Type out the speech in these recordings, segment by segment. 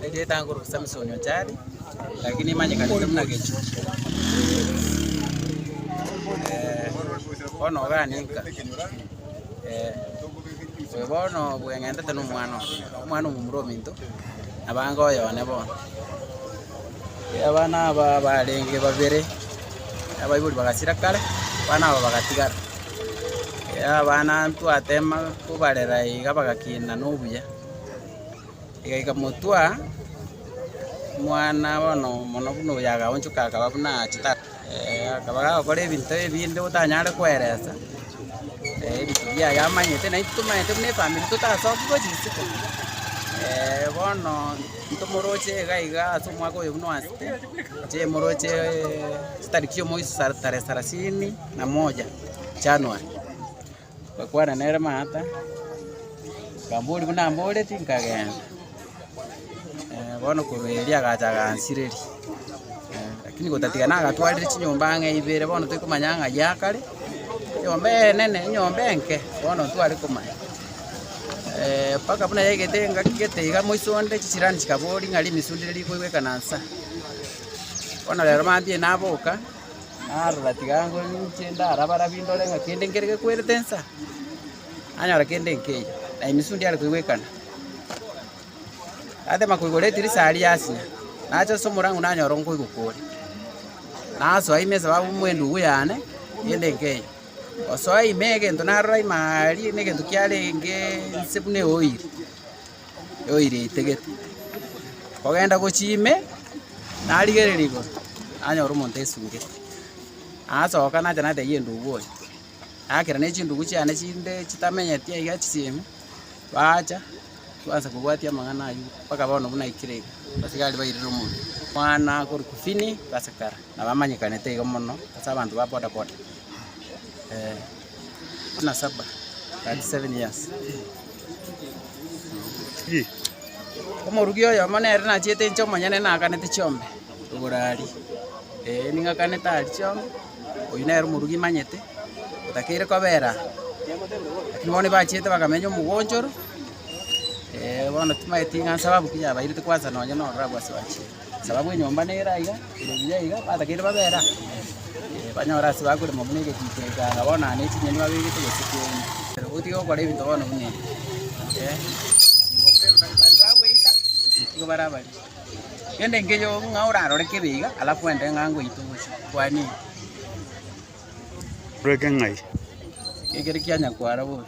Egetanguru Samsoni ochare, lakini emanyekanete buna gechuo. Eh, bono ogane nka. Eh, oyo bono bweng'entete nomwana oye, omwana omomura ominto, nabange oyo one bono. Abana aba barenge babere, abaibori bagasira kare, abana aba bagatigara. Abana twatema kobarera iga bagakina nobuya. Egeka motwa omwana bono mono buna oyo agaonchoka akaba buna achete. Akaba gagokora ebinto ebinde otanyare koeresa, ebinto biaye amanyete na intwe tomanyete buna efamiri totasoki gochia isiko. Bono ntomoroche iga iga ase omwaka oyo buna oanchete, ntomoroche chitariki chiomoiso sa tarehe sarasini na moja, January. Ngakwana nere mata, nkamboria, Buna mboreti, nkagenda. Bono korwa erio agacha agansireria. Lakini gotatiga nagatwarire chinyomba ang'e ibere, bono toikomanya ng'a ya kare, enyomba enene, enyomba enke, bono ntware komanya. Eh, mpaka buna yaigete engaki gete iga moiso onde, chisirani chikaboria ng'a rimisundire rikoigwekana nsa. Bono rero mambia naboka. narora tiga ninche ndare abarabi ndore ng'a kende nkere gekwerete nsa, nanyora kende nkeiyo, na emisu ndiare koigwa ekana. Natema koigora edirisa aria ase, nacha ase omorango nanyora nkoigokwa ore, nasoa ime sababu buna endugu yane, kende nkeiyo. Gosoa ime egento narora ime aria, na egento kiarenge nse buna eoiri. yoira eitegete, kogenda gochia ime, narigereria igoro, nanyora omonto aesungete. Nasoka nacha natebia endugu oye, nakera ne chindugu chiane chinde chitamenyeti aiga chisemi, bacha twansa kobwatia amang'ana aywo mpaka bono buna aikire iga, abasigari bairire omonto, omwana akorokwa Fini, basikara, na bamanyekanete iga mono ase abanto ba bodaboda, eh. Omoruki oyomo nere nachiete inche omonyene naganete chiombe igoro aria, ee ning'akanete aria chiombe, oyio nere omoruki imanyete, otakeire kobera aa. Lakini bono nibachiete bakamenya omogonchoro, ee bono timanyeti ng'a sababu ki yabairete kwansa nonye nororo abwo ase bachiete. Sababu enyomba nere aiga, ere buya iga, batakeire babe era. Eh, Banyore ase bakorema buna egetito ekanga, bono aa nechinyeni babegete gose keri. Gotiga gokora ebinto bono buna ebi. Eh, Baria bagweita, nigo bare abaria. Gende nkeyo ng'a orarore kebe iga, alafu ende ng'a ngoite obosie. Kwanini? Oreke ng'ai? Ekere kianyakwara bobe.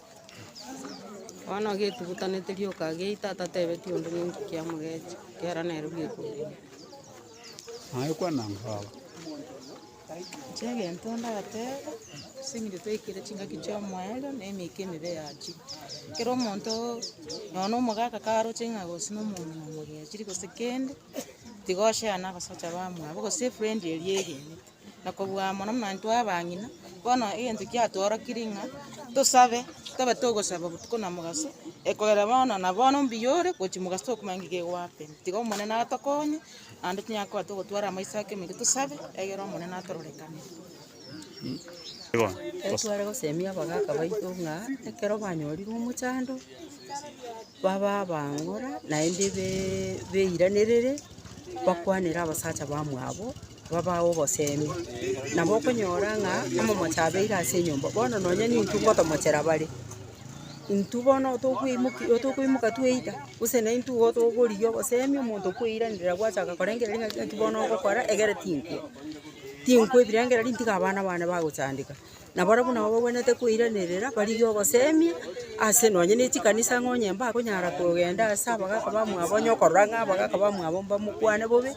Bono getugutanete rioka geita atatebeti onde ning'o kiamogecha, ekiagera nere bwekogenda. Naye kwana ng'a baba. Inche egento ndateba, ase eng'encho twaikire chingaki chi'omoerio na emeke emibe yachire. Kera omonto, nonya omogaka karoche ng'a gose na omonto na omogechiri gose kende, tiga oyeana gose ochabe amwabo gose efrendi eria egenete. na kobua amo namanto abang'ina. Bono egento kiatworokire ng'a tosabe, tobe togosaba botuko na mogaso, ekogera bono na bono mbuya ore gochia mogaso tokomanya ng'a kego goakera. Tiga Omonene atokonye, naende tonyare koba togotwara amaiso ake omoika tosabe, egere Omonene atororekanere. Ekero tware gosemia abagaka baito ng'a ekero banyorire omochando, babe abang'ora naende be- beiranerere, bakwanere abasacha bamwabo. babao obosemi, nabo okonyora ng'a omomocha abeire ase enyomba, bono nonya nintwe ngotomochera bare, intwe bono tokoimoki tokoimoka tweita, gose naintwe igo tokorigia obosemi omonto kweiranera gwachaka korengereria ng'a gaki bono ogokora egere tinkwe, tinkwe ebirengererio ntiga abana bane bagochandeka. Na barabwo nabo bagwenerete koiranerera, barigie ogosemia ase nonye ne chikanisa ng'a onye mbakonyara kogenda ase abagaka bamwabo, onye okorora ng'a abagaka bamwabo mbamokwane bobe,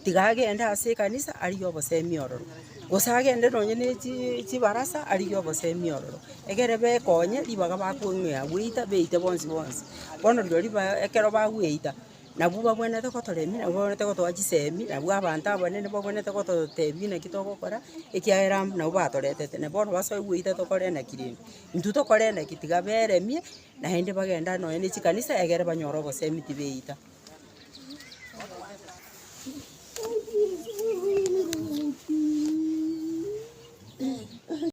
tiga agende ase ekanisa arigie obosemia ororo. Gose agende nonye ne chi- chibarasa arigie obosemia ororo, egere bekonye ribaga bakong'ea gweita, beite bonsi bonsi. Bono rirorio ribaga ekero bagweita, Nabwo babwenerete gotoremia, nabwo babwenerete gotoa chisemi, nabwo abanto abanene babwenerete gototeebia naki togokora, ekiagera mb- nabwo batoretete. Na bono basoe goita tokore naki rende? Intwe tokore naki? Tiga beremie, naende bagenda nonye ne chikanisa egere banyore obosemi tibeita.